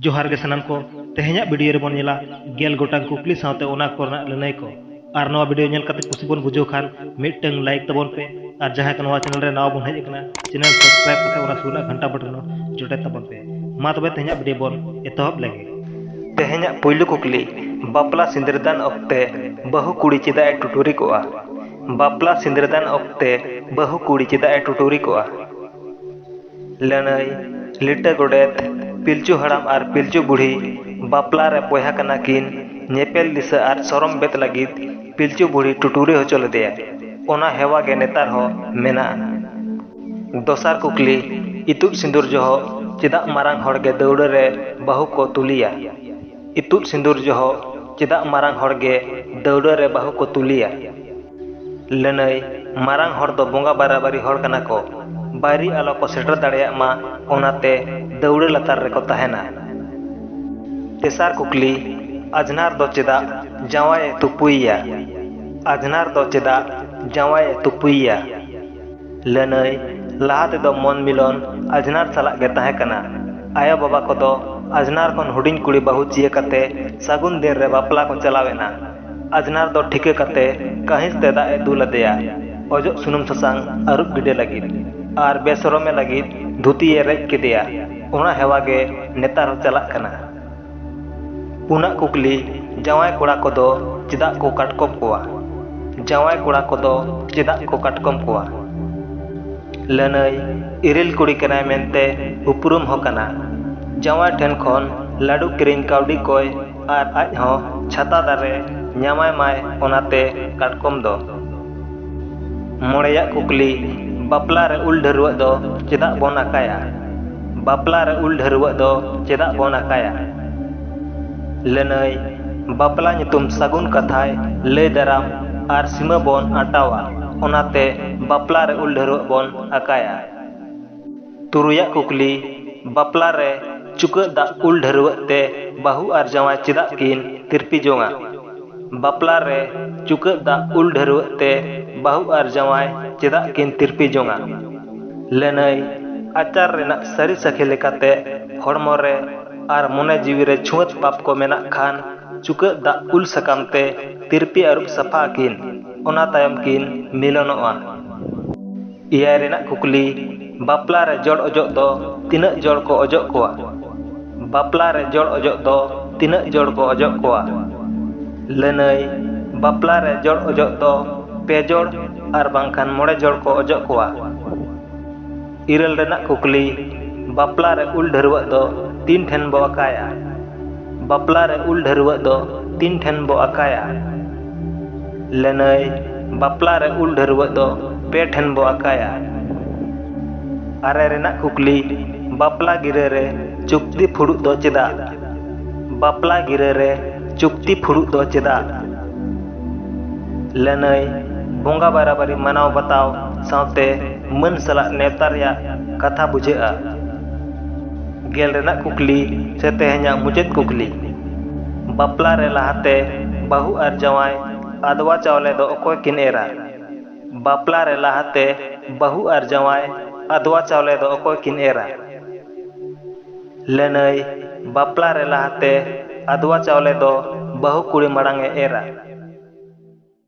ᱡᱚᱦᱟᱨ ᱜᱮ ᱥᱟᱱᱟᱢ ᱠᱚ ᱛᱮᱦᱮᱧᱟᱜ ᱵᱷᱤᱰᱤᱭᱳ ᱨᱮᱵᱚᱱ ᱧᱮᱞᱟ ᱜᱮᱞ ᱜᱚᱴᱟᱝ ᱠᱩᱠᱞᱤ ᱥᱟᱶᱛᱮ ᱚᱱᱟ ᱠᱚᱨᱮᱱᱟᱜ ᱞᱟᱹᱱᱟᱹᱭ ᱠᱚ ᱟᱨ ᱱᱚᱣᱟ ᱵᱷᱤᱰᱤᱭᱳ ᱧᱮᱞ ᱠᱟᱛᱮ ᱠᱩᱥᱤ ᱵᱚᱱ ᱵᱩᱡᱷᱟᱹᱣ ᱠᱷᱟᱱ ᱢᱤᱫᱴᱟᱝ ᱞᱟᱭᱤᱠ ᱛᱟᱵᱚᱱ ᱯᱮ ᱟᱨ ᱡᱟᱦᱟᱸᱭ ᱠᱚ ᱱᱚᱣᱟ ᱪᱮᱱᱮᱞ ᱨᱮ ᱱᱟᱣᱟ ᱵᱚᱱ ᱦᱮᱡ ᱟᱠᱟᱱᱟ ᱪᱮᱱᱮᱞ ᱥᱟᱵᱥᱠᱨᱟᱭᱤᱵ ᱠᱟᱛᱮ ᱚᱱᱟ ᱥᱩᱨ ᱨᱮᱱᱟᱜ ᱜᱷᱟᱱᱴᱟ ᱵᱚᱴᱚᱱ ᱡᱚᱴᱮᱫ ᱛᱟᱵᱚᱱ ᱯᱮ ᱢᱟ ᱛᱚᱵᱮ ᱛᱮᱦᱮᱧᱟᱜ ᱵᱷᱤᱰᱤᱭᱳ ᱵᱚᱱ ᱮᱛᱚᱦᱚᱵ ᱞᱮᱜᱮ ᱛᱮᱦᱮᱧᱟᱜ ᱯᱩᱭᱞᱩ ᱠᱩᱠᱞᱤ ᱵᱟᱯᱞᱟ ᱥᱤᱸᱫᱨᱟᱹᱫᱟᱱ ᱚᱠᱛᱮ ᱵᱟᱹᱦᱩ ᱠᱩᱲᱤ ᱪᱮᱫᱟᱜ ᱮ ᱴᱩᱴᱩᱨᱤ ᱠᱚᱜᱼᱟ ᱵᱟᱯᱞᱟ ᱥᱤᱸᱫᱨᱟᱹᱫᱟᱱ ᱚᱠᱛᱮ ᱵᱟᱹᱦᱩ ᱠᱩᱲᱤ ᱪᱮᱫᱟᱜ ᱮ ᱴᱩᱴᱩᱨᱤ ᱠᱚᱜᱼᱟ ᱞᱟᱹᱱᱟᱹᱭ, ᱞᱤᱴᱟᱹ ᱜᱚᱰᱮᱛ, ᱯᱤᱞᱪᱩ ᱦᱟᱲᱟᱢ ᱟᱨ ᱯᱤᱞᱪᱩ ᱵᱩᱰᱷᱤ ᱵᱟᱯᱞᱟ ᱨᱮ ᱵᱚᱭᱦᱟ ᱠᱟᱱᱟ ᱠᱤᱱ, ᱧᱮᱯᱮᱞ ᱫᱤᱥᱟᱹ ᱟᱨ ᱥᱚᱨᱚᱢ ᱵᱮᱫ ᱞᱟᱹᱜᱤᱫ ᱯᱤᱞᱪᱩ ᱵᱩᱰᱷᱤ ᱴᱩᱴᱩᱨᱤ ᱦᱚᱪᱚ ᱞᱮᱫᱮᱭᱟ᱾ ᱚᱱᱟ ᱦᱮᱣᱟ ᱜᱮ ᱱᱮᱛᱟᱨ ᱦᱚᱸ ᱢᱮᱱᱟᱜᱼᱟ᱾ ᱫᱚᱥᱟᱨ ᱠᱩᱠᱞᱤ, ᱤᱛᱩᱫ ᱥᱤᱸᱫᱩᱨ ᱡᱚᱦᱚᱜ ᱪᱮᱫᱟᱜ ᱢᱟᱨᱟᱝ ᱦᱚᱲ ᱜᱮ ᱫᱟᱹᱣᱲᱟᱹ ᱨᱮ ᱵᱟᱹᱦᱩ ᱠᱚ ᱛᱩᱞᱮᱭᱟ? ᱤᱛᱩᱫ ᱥᱤᱸᱫᱩᱨ ᱡᱚᱦᱚᱜ ᱪᱮᱫᱟᱜ ᱢᱟᱨᱟᱝ ᱦᱚᱲ ᱜᱮ ᱫᱟᱹᱣᱲᱟᱹ ᱨᱮ ᱵᱟᱹᱦᱩ ᱠᱚ ᱛᱩᱞᱮᱭᱟ? ᱞᱟᱹᱱᱟᱹᱭ ᱢᱟᱨᱟᱝ ᱦᱚᱲ ᱫᱚ ᱵᱚᱸᱜᱟ ᱵᱟᱨᱟᱵᱟᱨᱤ ᱦᱚᱲ ᱠᱟᱱᱟ ᱠᱚ ᱵᱟᱭᱨᱤ ᱟᱞᱚ ᱠᱚ ᱥᱮᱴᱮᱨ ᱫᱟᱲᱮᱭᱟᱜ ᱢᱟ ᱚᱱᱟᱛᱮ ᱫᱟᱹᱣᱲᱟᱹ ᱞᱟᱛᱟᱨ ᱨᱮᱠᱚ ᱛᱟᱦᱮᱱᱟ ᱛᱮᱥᱟᱨ ᱠᱩᱠᱞᱤ ᱟᱡᱷᱱᱟᱨ ᱫᱚ ᱪᱮᱫᱟᱜ ᱡᱟᱶᱟᱭ ᱮ ᱛᱩᱯᱩᱭᱮᱭᱟ ᱟᱡᱷᱱᱟᱨ ᱫᱚ ᱪᱮᱫᱟᱜ ᱡᱟᱶᱟᱭ ᱮ ᱛᱩᱯᱩᱭᱮᱭᱟ ᱞᱟᱹᱱᱟᱹᱭ ᱞᱟᱦᱟ ᱛᱮᱫᱚ ᱢᱚᱱ ᱢᱤᱞᱚᱱ ᱟᱡᱷᱱᱟᱨ ᱥᱟᱞᱟᱜ ᱜᱮ ᱛᱟᱦᱮᱸ ᱠᱟᱱᱟ ᱟᱭᱳ ᱵᱟᱵᱟ ᱠᱚᱫᱚ ᱟᱡᱷᱱᱟᱨ ᱠᱷᱚᱱ ᱦᱩᱰᱤᱧ ᱠᱩᱲᱤ ᱵᱟᱹᱦᱩ ᱪᱤᱭᱟᱹ ᱠᱟᱛᱮ ᱥᱟᱹᱜᱩᱱ ᱫᱤᱱ ᱨᱮ ᱵᱟᱯᱞᱟ ᱠᱚ ᱪᱟᱞᱟᱣ ᱮᱱᱟ ᱟᱡᱽᱱᱟᱨ ᱫᱚ ᱴᱷᱤᱠᱟᱹ ᱠᱟᱛᱮ ᱠᱟᱹᱦᱤᱸᱥ ᱛᱮ ᱫᱟᱜ ᱮ ᱫᱩᱞ ᱟᱫᱮᱭᱟ᱾ ᱚᱡᱚᱜ ᱥᱩᱱᱩᱢ ᱥᱟᱥᱟᱝ ᱟᱹᱨᱩᱵ ᱜᱤᱰᱮ ᱞᱟᱹᱜᱤᱫ ᱟᱨ ᱵᱮᱥᱚᱨᱚᱢ ᱮ ᱞᱟᱹᱜᱤᱫ ᱫᱷᱩᱛᱤ ᱮ ᱨᱮᱡ ᱠᱮᱫᱮᱭᱟ᱾ ᱚᱱᱟ ᱦᱮᱣᱟ ᱜᱮ ᱱᱮᱛᱟᱨ ᱦᱚᱸ ᱪᱟᱞᱟᱜ ᱠᱟᱱᱟ᱾ ᱯᱩᱱᱟᱜ ᱠᱩᱠᱞᱤ, ᱡᱟᱶᱟᱭ ᱠᱚᱲᱟ ᱠᱚᱫᱚ ᱪᱮᱫᱟᱜ ᱠᱚ ᱠᱟᱴᱠᱚᱢ ᱠᱚᱣᱟ? ᱡᱟᱶᱟᱭ ᱠᱚᱲᱟ ᱠᱚᱫᱚ ᱪᱮᱫᱟᱜ ᱠᱚ ᱠᱟᱴᱠᱚᱢ ᱠᱚᱣᱟ? ᱞᱟᱹᱱᱟᱹᱭ, ᱤᱨᱤᱞ ᱠᱩᱲᱤ ᱠᱟᱱᱟᱭ ᱢᱮᱱᱛᱮ ᱩᱯᱨᱩᱢ ᱦᱚᱸ ᱠᱟᱱᱟ᱾ ᱡᱟᱶᱟᱭ ᱴᱷᱮᱱ ᱠᱷᱚᱱ ᱞᱟᱹᱰᱩ ᱠᱤᱨᱤᱧ ᱠᱟᱹᱣᱰᱤ ᱠᱚᱭ ᱟᱨ ᱟᱡ ᱦᱚᱸ ᱪᱷᱟᱛᱟ ᱫᱟᱨᱮ ᱧᱟᱢᱟᱭ ᱢᱟᱭ ᱚᱱᱟᱛᱮ ᱠᱟᱴᱠᱚᱢ ᱫᱚ᱾ ᱢᱚᱬᱮᱭᱟᱜ ᱠᱩᱠᱞᱤ, ᱵᱟᱯᱞᱟ ᱨᱮ ᱩᱞ ᱰᱷᱟᱹᱨᱣᱟᱹᱜ ᱫᱚ ᱪᱮᱫᱟᱜ ᱵᱚᱱ ᱟᱠᱟᱭᱟ? ᱵᱟᱯᱞᱟ ᱨᱮ ᱩᱞ ᱰᱷᱟᱹᱨᱣᱟᱹᱜ ᱫᱚ ᱪᱮᱫᱟᱜ ᱵᱚᱱ ᱟᱠᱟᱭᱟ? ᱞᱟᱹᱱᱟᱹᱭ, ᱵᱟᱯᱞᱟ ᱧᱩᱛᱩᱢ ᱥᱟᱹᱜᱩᱱ ᱠᱟᱛᱷᱟᱭ ᱞᱟᱹᱭ ᱫᱟᱨᱟᱢ ᱟᱨ ᱥᱤᱢᱟᱹ ᱵᱚᱱ ᱟᱸᱴᱟᱣᱟ ᱚᱱᱟᱛᱮ ᱵᱟᱯᱞᱟ ᱨᱮ ᱩᱞ ᱰᱷᱟᱹᱨᱣᱟᱹᱜ ᱵᱚᱱ ᱟᱠᱟᱭᱟ᱾ ᱛᱩᱨᱩᱭ ᱟᱜ ᱠᱩᱠᱞᱤ, ᱵᱟᱯᱞᱟ ᱨᱮ ᱪᱩᱠᱟᱹᱜ ᱫᱟᱜ ᱩᱞ ᱰᱷᱟᱹᱨᱣᱟᱹᱜ ᱛᱮ ᱵᱟᱹᱦᱩ ᱟᱨ ᱡᱟᱶᱟᱭ ᱪᱮᱫᱟᱜ ᱠᱤᱱ ᱛᱤᱨᱯᱤ ᱡᱚᱝᱼᱟ? ᱵᱟᱯᱞᱟ ᱨᱮ ᱪᱩᱠᱟᱹᱜ ᱫᱟᱜ ᱩᱞ ᱰᱷᱟᱹᱨᱣᱟᱹᱜ ᱛᱮ ᱵᱟᱹᱦᱩ ᱟᱨ ᱡᱟᱶᱟᱭ ᱪᱮᱫᱟᱜ ᱠᱤᱱ ᱛᱤᱨᱯᱤ ᱡᱚᱝᱼᱟ? ᱞᱟᱹᱱᱟᱹᱭ ᱟᱪᱟᱨ ᱨᱮᱱᱟᱜ ᱥᱟᱹᱨᱤ ᱥᱟᱹᱠᱷᱤ ᱞᱮᱠᱟᱛᱮ ᱦᱚᱲᱢᱚ ᱨᱮ ᱟᱨ ᱢᱚᱱᱮ ᱡᱤᱣᱤ ᱨᱮ ᱪᱷᱩᱣᱟᱹᱛ ᱯᱟᱯ ᱠᱚ ᱢᱮᱱᱟᱜ ᱠᱷᱟᱱ ᱪᱩᱠᱟᱹᱜ ᱫᱟᱜ ᱩᱞ ᱥᱟᱠᱟᱢ ᱛᱮ ᱛᱤᱨᱯᱤ ᱟᱹᱨᱩᱵ ᱥᱟᱯᱷᱟ ᱟᱹᱠᱤᱱ᱾ ᱚᱱᱟ ᱛᱟᱭᱚᱢ ᱠᱤᱱ ᱢᱤᱞᱚᱱᱚᱜᱼᱟ᱾ ᱮᱭᱟᱭ ᱨᱮᱱᱟᱜ ᱠᱩᱠᱞᱤ ᱵᱟᱯᱞᱟ ᱨᱮ ᱡᱚᱲ ᱚᱡᱚᱜ ᱫᱚ ᱛᱤᱱᱟᱹᱜ ᱡᱚᱲ ᱠᱚ ᱚᱡᱚᱜ ᱠᱚᱣᱟ? ᱵᱟᱯᱞᱟ ᱨᱮ ᱡᱚᱲ ᱚᱡᱚᱜ ᱫᱚ ᱛᱤᱱᱟᱹᱜ ᱡᱚᱲ ᱠᱚ ᱚᱡᱚᱜ ᱠᱚᱣᱟ? ᱞᱟᱹᱱᱟᱹᱭ ᱵᱟᱯᱞᱟ ᱨᱮ ᱡᱚᱲ ᱚᱡᱚᱜ ᱫᱚ ᱯᱮ ᱡᱚᱲ ᱟᱨ ᱵᱟᱝᱠᱷᱟᱱ ᱢᱚᱬᱮ ᱡᱚᱲ ᱠᱚ ᱚᱡᱚᱜ ᱠᱚᱣᱟ᱾ ᱤᱨᱟᱹᱞ ᱨᱮᱱᱟᱜ ᱠᱩᱠᱞᱤ ᱵᱟᱯᱞᱟ ᱨᱮ ᱩᱞ ᱰᱷᱟᱹᱨᱣᱟᱹᱜ ᱫᱚ ᱛᱤᱱ ᱴᱷᱮᱱ ᱵᱚ ᱟᱠᱟᱭᱟ? ᱵᱟᱯᱞᱟ ᱨᱮ ᱩᱞ ᱰᱷᱟᱹᱨᱣᱟᱹᱜ ᱫᱚ ᱛᱤᱱ ᱴᱷᱮᱱ ᱵᱚ ᱟᱠᱟᱭᱟ? ᱞᱟᱹᱱᱟᱹᱭ ᱵᱟᱯᱞᱟ ᱨᱮ ᱩᱞ ᱰᱷᱟᱹᱨᱣᱟᱹᱜ ᱫᱚ ᱯᱮ ᱴᱷᱮᱱ ᱵᱚ ᱟᱠᱟᱭᱟ᱾ ᱟᱨᱮ ᱨᱮᱱᱟᱜ ᱠᱩᱠᱞᱤ ᱵᱟᱯᱞᱟ ᱜᱤᱨᱟᱹ ᱨᱮ ᱪᱩᱠᱛᱤ ᱯᱷᱩᱲᱩᱜ ᱫᱚ ᱪᱮᱫᱟᱜ? ᱵᱟᱯᱞᱟ ᱜᱤᱨᱟᱹ ᱨᱮ ᱪᱩᱠᱛᱤ ᱯᱷᱩᱲᱩᱜ ᱫᱚ ᱪᱮᱫᱟᱜ? ᱞᱟᱹᱱᱟᱹᱭ ᱵᱚᱸᱜᱟ ᱵᱟᱨᱟᱵᱟᱨᱤ ᱢᱟᱱᱟᱣ ᱵᱟᱛᱟᱣ ᱥᱟᱶᱛᱮ ᱢᱟᱹᱱ ᱥᱟᱞᱟᱜ ᱱᱮᱣᱛᱟ ᱨᱮᱭᱟᱜ ᱠᱟᱛᱷᱟ ᱵᱩᱡᱷᱟᱹᱜᱼᱟ᱾ ᱜᱮᱞ ᱨᱮᱱᱟᱜ ᱠᱩᱠᱞᱤ ᱥᱮ ᱛᱮᱦᱮᱧᱟᱜ ᱢᱩᱪᱟᱹᱫ ᱠᱩᱠᱞᱤ᱾ ᱵᱟᱯᱞᱟ ᱨᱮ ᱞᱟᱦᱟᱛᱮ ᱵᱟᱹᱦᱩ ᱟᱨ ᱡᱟᱶᱟᱭ ᱟᱫᱽᱣᱟ ᱪᱟᱣᱞᱮ ᱫᱚ ᱚᱠᱚᱭ ᱠᱤᱱ ᱮᱨᱟ? ᱵᱟᱯᱞᱟ ᱨᱮ ᱞᱟᱦᱟᱛᱮ ᱵᱟᱹᱦᱩ ᱟᱨ ᱡᱟᱶᱟᱭ ᱟᱫᱽᱣᱟ ᱪᱟᱣᱞᱮ ᱫᱚ ᱚᱠᱚᱭ ᱠᱤᱱ ᱮᱨᱟ? ᱞᱟᱹᱱᱟᱹᱭ, ᱵᱟᱯᱞᱟ ᱨᱮ ᱞᱟᱦᱟᱛᱮ ᱟᱫᱽᱣᱟ ᱪᱟᱣᱞᱮ ᱫᱚ ᱵᱟᱹᱦᱩ ᱠᱩᱲᱤ ᱢᱟᱲᱟᱝ ᱮ ᱮᱨᱟ᱾